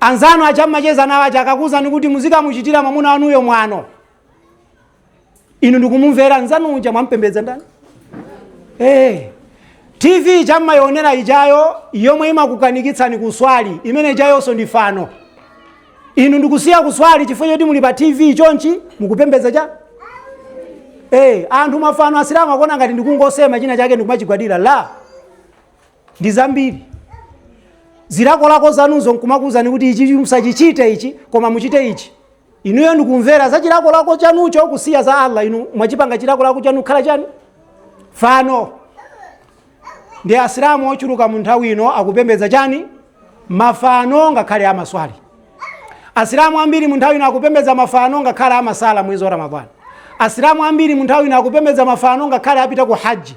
Anzanu aja mmacheza nawo aja akakuuzani kuti muzikamuchitira mwamuna wanuyo mwano, inu ndikumumvera nzanu uja mwampembedza ndani? Eh, TV ija mmayionera ijayo yomwe imakukanikitsani kuswali, imene ijayonso ndi fano. Inu ndikusiya kuswali chifukwa choti muli pa TV chonchi mukupembedza chani Eh, anthu mafano asilamu akuona ngati ndikungosema china chake ndikumachigwadira la ndi zambiri. Zilakolako zanuzo nkumakuuzani kuti ichi musachichite ichi koma muchite ichi. Inuyo ndikumvera za chilakolako chanucho kusiya za Allah inu mwachipanga chilakolako chanu kukhala chani? Fano. Ndi Asilamu ochuluka mu nthawi ino akupembedza chani? Mafano ngakhale amaswali. Asilamu ambiri mu nthawi ino akupembedza mafano ngakhale amasala mwezi wa Ramadhani. Asilamu ambiri mu nthawi ino akupembedza mafano ngakhale apita ku haji.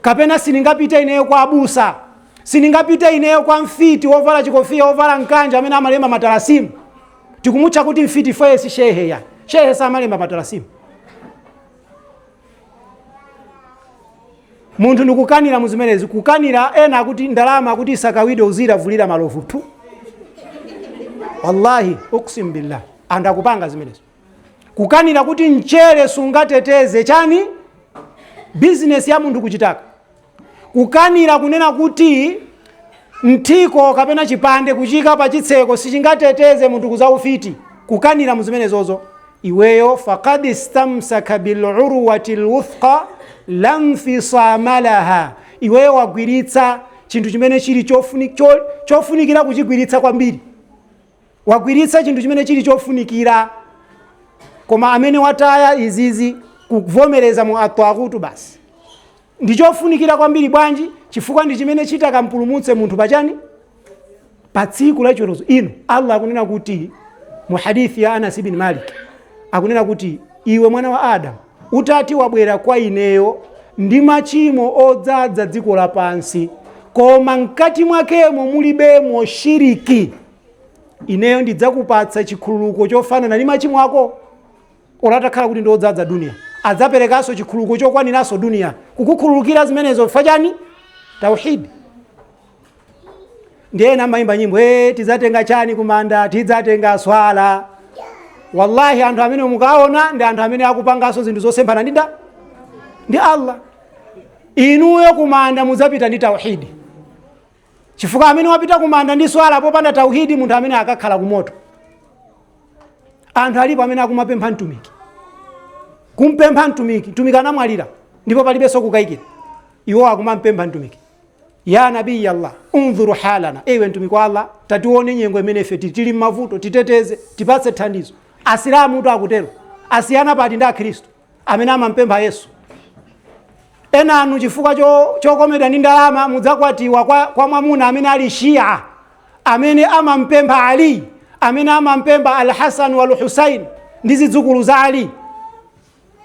kapena sindingapite ineyo kwa abusa, sindingapite ineyo kwa mfiti wovala chikofiya, wovala mkanjo amene amalemba matalasimu. Tikumutcha kuti mfiti ifeye si shehe ayi. Shehe samalemba matalasimu. Munthu ndikukanira mu zimenezi, kukanira ena akuti ndalama akuti isakawidwe uzira vulira malovu tu. Wallahi uksim billah. Anthu akupanga zimenezi. kukanira kuti mchere sungateteze chani bizinesi ya munthu kuchitaka kukanira kunena kuti mthiko kapena chipande kuchiika pa chitseko sichingateteze munthu kuzaufiti kukanira muzimenezozo iweyo fakad istamsaka bilurwati lwuthqa lanfisamalaha iweyo wagwiritsa chinthu chimene chili chofunikira kuchigwiritsa kwambiri wagwiritsa chinthu chimene chili chofunikira koma amene wataya izizi kuvomereza mu atwaghutu basi ndi chofunikira kwambiri bwanji chifukwa ndi chimene chitakampulumutse munthu pachani pa tsiku la chiweruzo ino allah akunena kuti mu hadithi ya anas ibn malik akunena kuti iwe mwana wa adamu utati wabwera kwa ineyo ndi machimo odzadza dziko lapansi koma mkati mwakemo mulibemo shiriki ineyo ndidzakupatsa chikhululuko chofanana ndi machimo ako ola atakhala kuti ndiodzadza duniya adzaperekanso chikhululuko chokwaniranso duniya kukukhululukira zimenezo chifukwa chani tauhidi ndiye ena amayimba nyimbo tidzatenga chani kumanda tidzatenga swala wallahi anthu amene mukaona ndi anthu amene akupanganso zinthu zosemphana ndi allah inuyo kumanda mudzapita ndi tauhidi chifukwa amene wapita kumanda ndi swala popanda tauhidi munthu amene akakhala kumoto anthu alipo amene akumapempha mtumiki kumpempha mtumiki mtumiki anamwalira ndipo palibenso kukayikira iwo akumampempha mtumiki ya nabiyi allah undhur halana ewe mtumiki wa allah tatione nyengo imene ife tili tili mmavuto titeteze tipatse thandizo asilamu tu akutero asiyana pati ndi akhristu amene amampempha yesu ena inu chifukwa cho- chokomedwa ndi ndalama mudzakwatiwa kwa, kwa mwamuna amene ali shia amene amampempha ali amene amampempha alhasan walhusain ndi zidzukulu za ali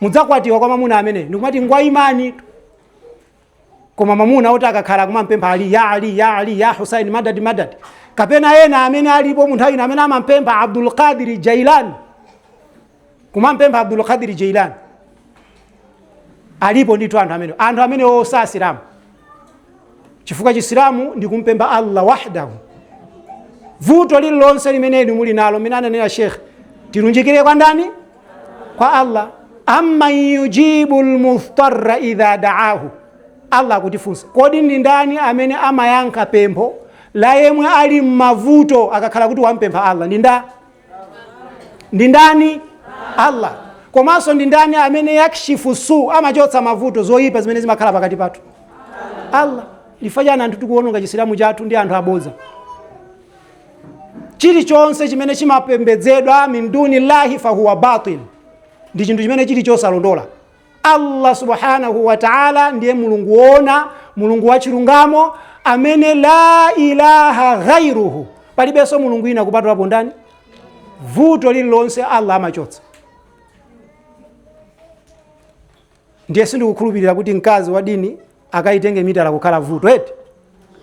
mudzakwatiwa kwa mwamuna amene ndikumati ngwa imani tu koma mamuna oti akakhala akumampempha ali ya ali ya ali ya husaini madad madad kapena ena amene alipo mu nthawi ino amene amampempha abdul qadir jailani kumampempha abdul qadir jailani alipo ndithu anthu amene anthu amene osa asilamu chifukwa chisilamu ndi kumpempha allah wahdahu vuto lililonse limene inu muli nalo mmene ananena shekhe tilunjikire kwa ndani kwa allah amman yujibu lmudhtarra idha daahu allah akutifunsa kodi ndi ndani amene amayankha pempho la yemwe ali mmavuto akakhala kuti wampempha allah ndi nda ndi ndani allah komanso ndi ndani amene yakshifu su amachotsa mavuto zoyipa zimene zimakhala pakati pathu allah chifukwa chani anthu tikuononga chisilamu chathu ndi anthu abodza chilichonse chimene chimapembedzedwa min duni llahi fahuwa batil ndi chinthu chimene chili chosalondola allah subhanahu wa taala ndiye mulungu woona mulungu wachilungamo amene la ilaha ghairuhu palibenso mulungu ina kupatulapo ndani vuto lililonse allah amachotsa ndiye sindikukhulupirira kuti mkazi wa dini akaitenge mitala kukhala vuto eti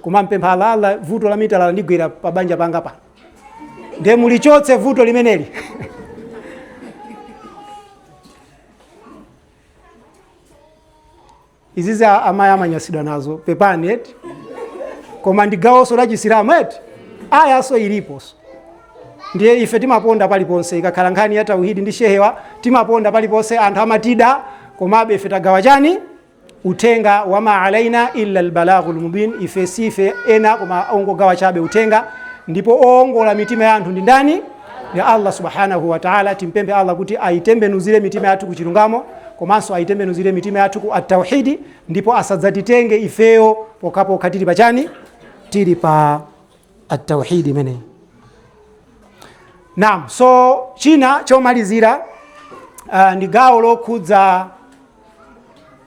kumampempha Allah Allah vuto la mitala landigwera pa banja panga pano ndiye mulichotse vuto limeneli izizi a- amayi amanyasidwa nazo pepani eti koma ndi gawonso la chisilamu eti ayaso iliponso ndiye ife timaponda paliponse ikakhala nkhani ya tauhidi ndi shehewa timaponda paliponse anthu amatida komabe ife tagawa chani uthenga wama alaina illa lbalaghu lmubin ife si ife ena koma ongogawa chabe uthenga ndipo oongola mitima ya anthu ndi ndani ndi allah subhanahu wataala timpemphe allah kuti aitembenuzire mitima yathu kuchilungamo komanso aitembenuzire mitima yathu ku at-tauhidi ndipo asadzatitenge ifeyo pokhapokha tili pachani tili pa at-tauhid imeneyi naam so china chomalizira uh, ndi gawo lokhudza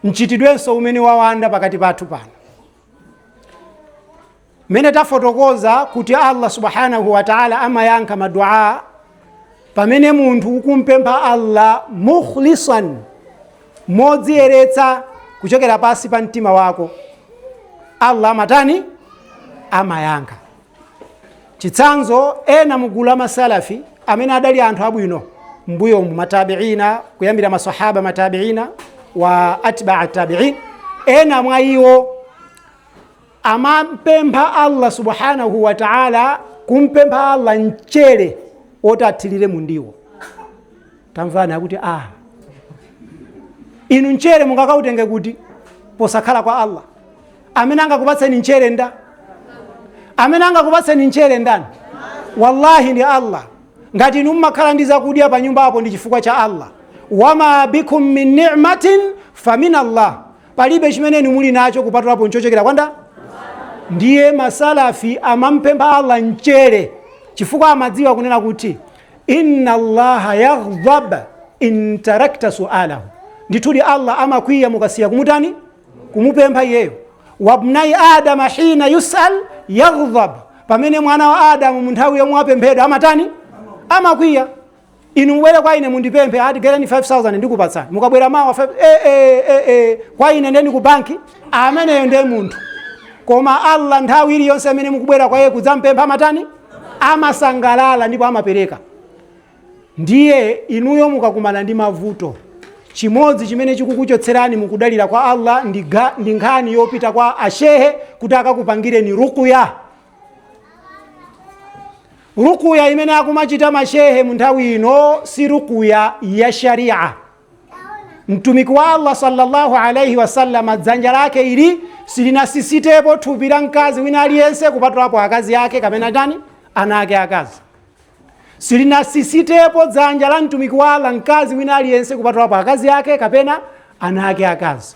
mchitidwenso umene wawanda pakati pathu pano mmene tafotokoza kuti allah subhanahu wa taala amayankha maduaa pamene munthu ukumpempha allah mukhlisan modziyeretsa kuchokera pansi pa mtima wako allah amatani amayankha chitsanzo ena mugulu la masalafi amene adali anthu abwino mbuyo mu matabiina kuyambira masahaba matabiina wa atbaa tabiin ena mwa iwo amampempha allah subhanahu wa taala kumpempha allah mchere woti athirire mundiwo tamvani akuti a inu mchere mungakautenge kuti posakhala kwa allah amene angakupatseni mchere nda amene angakupatseni mchere ndani wallahi ndi allah ngati inu mmakhala ndi zakudya pa nyumba apo ndi chifukwa cha allah wama bikum min ni'matin famin allah palibe chimene inu muli nacho kupatulapo nchochokera kwa nda ndiye masalafi amampempha allah mchere chifukwa amadziwa kunena kuti inna allaha yaghdab in tarakta sualahu ndithudi allah amakwiya mukasiya kumutani kumupempha iyeyo wabnai adama hina yusal yaghdab pamene mwana wa adamu mu nthawi yomwe wapemphedwa amatani amakwiya inu mubwere kwa ine mundipemphe ati ndigaireni 5000 ndikupatsani mukabwera mawa kwa ine ndeni ku banki ameneyo ndiye munthu koma allah nthawi iliyonse amene mukubwera kwa iye kudzampempha amatani amasangalala ndipo amapereka. Ndiye inuyo mukakumana ndi mavuto, chimodzi chimene chikukuchotserani mukudalira kwa Allah ndi nkhani yopita kwa ashehe kuti akakupangireni rukuya. Rukuya imene akumachita mashehe mu nthawi ino si rukuya ya sharia. mtumiki wa allah sallallahu alaihi wasallama dzanja lake ili silinasisitepo thupi la mkazi wina aliyense kupatulapo akazi ake kapena ndani ana ake akazi silinasisitepo dzanja la mtumiki wa allah mkazi wina aliyense kupatulapo akazi ake kapena ana ake akazi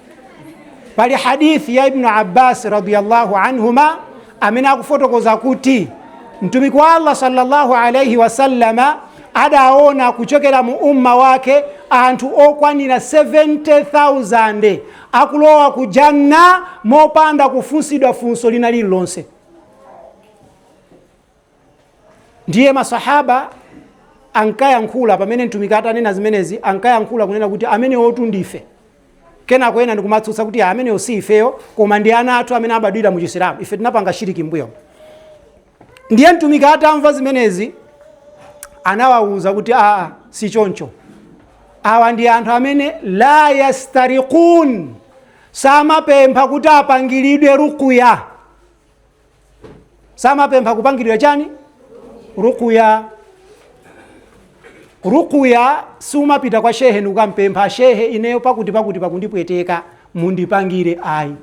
pali hadithi ya ibnu abbas radiallahu anhuma amene akufotokoza kuti mtumiki wa allah sallallahu alaihi wasallama adaona kuchokera mu umma wake anthu okwanira 70000 akulowa ku janna mopanda kufunsidwa funso lina lililonse ndiye masahaba ankayankhula pamene mtumiki atanena zimenezi ankayankhula kunena kuti amenewotu ndife kenako ena ndikumatsutsa kuti "Ah, amenewo si ifeyo koma ndi ana athu amene abadwira mu chisilamu ife tinapanga shiriki mbuyo ndiye mtumiki atamva zimenezi anawawuza kuti aa si choncho awa ndi anthu amene la yastariqun samapempha kuti apangiridwe rukuya samapempha kupangiridwa chani rukuya rukuya sumapita kwa shehe ndikukampempha shehe ineyo pakuti pakuti pakundipweteka mundipangire ayi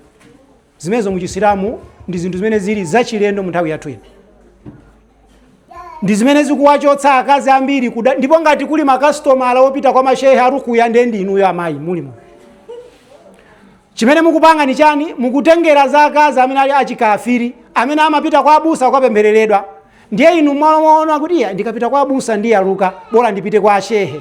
zimenezo muchisilamu ndi zinthu zimene zili zachilendo mu nthawi yathu ino ndi zimene zikuwachotsa akazi ambiri kuda ndipo ngati kuli makasitomala opita kwa mashehe arukuya nde ndi inuyo amayi mulimo chimene mukupanga ni chani mukutengera za akazi amene ali achikafiri amene amapita kwa abusa kukapemphereredwa ndiye inu mwaona kuti iya ndikapita kwa abusa ndiyaluka bola ndipite kwa ashehe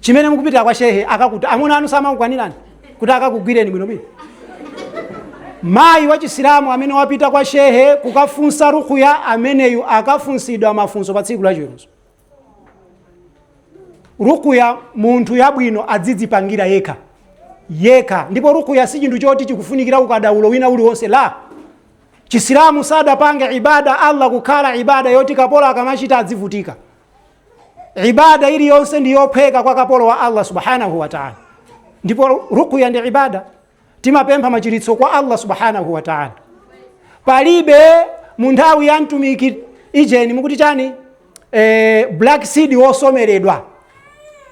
chimene mukupitira kwa shehe akakuti amuna anu samamukwanirani kuti akakugwireni bwinobwino mayi wachisilamu amene wapita kwa shehe kukafunsa rukuya ameneyu akafunsidwa mafunso pa tsiku lachiweruzo rukuya munthu yabwino adzidzipangira yekha yekha ndipo rukuya si chinthu choti chikufunikira ukadaulo wina uliwonse la chisilamu sadapange ibada allah kukhala ibada yoti kapolo akamachita adzivutika ibada iliyonse ndi yophweka kwa kapolo wa allah subhanahu wataala ndipo rukuya ndi ibada timapempha machiritso kwa allah subhanahu wataala palibe mu nthawi ya mtumiki ijeni mukuti chani eh, black seed wosomeredwa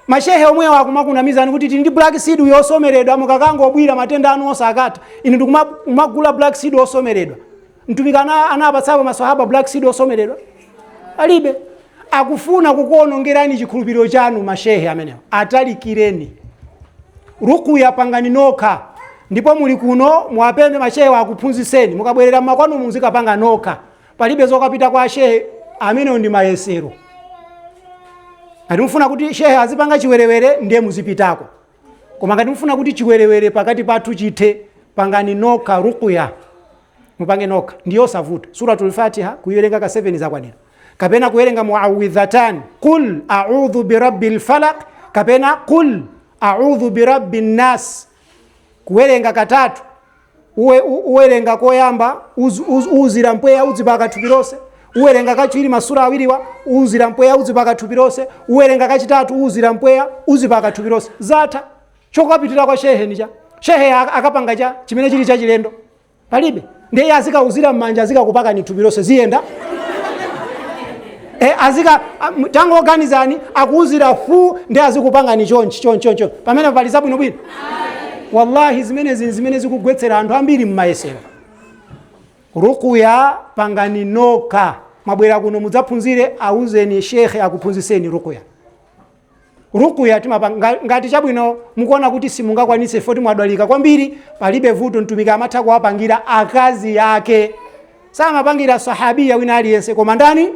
mashehe omwewo akumakunamizani kuti tili ndi black seed yosomeredwa mukangobwira matenda anu onse akatha inu ndikumagula black seed wosomeredwa Mtumiki ana anapatsapo maswahaba black seed osomeredwa? Palibe. Akufuna kukuonongerani chikhulupiriro chanu mashehe amenewa. Atalikireni. Rukuya pangani nokha. Ndipo muli kuno muwapemphe mashehewa akuphunzitseni. Mukabwerera mmakwanu muzikapanga nokha. Palibe zokapita kwa shehe amenewo ndi mayesero. Ngati mufuna kuti shehe azipanga chiwerewere ndiye muzipitako. koma ngati mufuna kuti chiwerewere pakati pathu chithe pangani nokha rukuya mupange nokha ndi yosavuta suratul fatiha kuyiwerenga ka 7 zakwanira kapena kuwerenga muawidhatan qul audhu birabbi lfalaq kapena qul audhu birabbi nnas kuwerenga katatu Uwe, u, uwerenga koyamba uz, uz, uzira mpweya udzipaka thupi lonse uwerenga kachiwiri masura awiriwa uzira mpweya udzipaka thupi lonse uwerenga kachitatu uzira mpweya uzipaka thupi lonse zatha chokapitira kwa shehe ni cha shehe ak- akapanga cha chimene chili chachilendo palibe ndiye azikauzira m'manja azikakupakani thupi lonse ziyenda e, azika am- tangoganizani akuuzira fu ndi azikupangani chonchi chonchi chonchi pamene papa pali zabwinobwino wallahi zimenezi ni zimene zikugwetsera anthu ambiri mmayesero rukuya pangani nokha mwabwera kuno mudzaphunzire auzeni shekhe akuphunzitseni rukuya rukuya timapanga ngati chabwino mukuona kuti simungakwanitse foti mwadwalika kwambiri palibe vuto mtumiki amatha kuwapangira akazi yake samapangira sahabiya wina aliyense koma ndani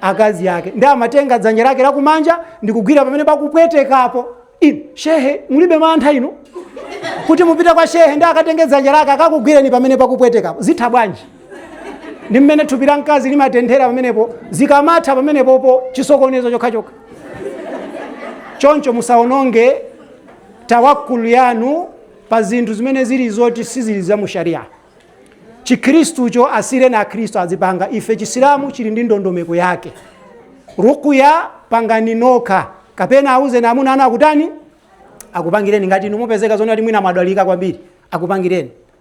akazi yake ndiye amatenga dzanja lake lakumanja ndikugwira pamene pakupwetekapo inu shehe mulibe mantha inu kuti mupita kwa shehe ndiye akatenge dzanja lake akakugwireni pamene pakupwetekapo zitha bwanji ndi mmene thupi la mkazi limatenthera pamenepo zikamatha pamenepopo chisokonezo chokhachokha choncho musaononge tawakkul yanu pa zinthu zimene zili zoti sizili za mu sharia chikhristucho asireni akhristu azipanga ife chisilamu chili ndi ndondomeko yake rukuya pangani nokha kapena auzeni amuna anu akutani akupangireni ngati inu mupezeka zonena kuti mwina mwadwalika kwambiri akupangireni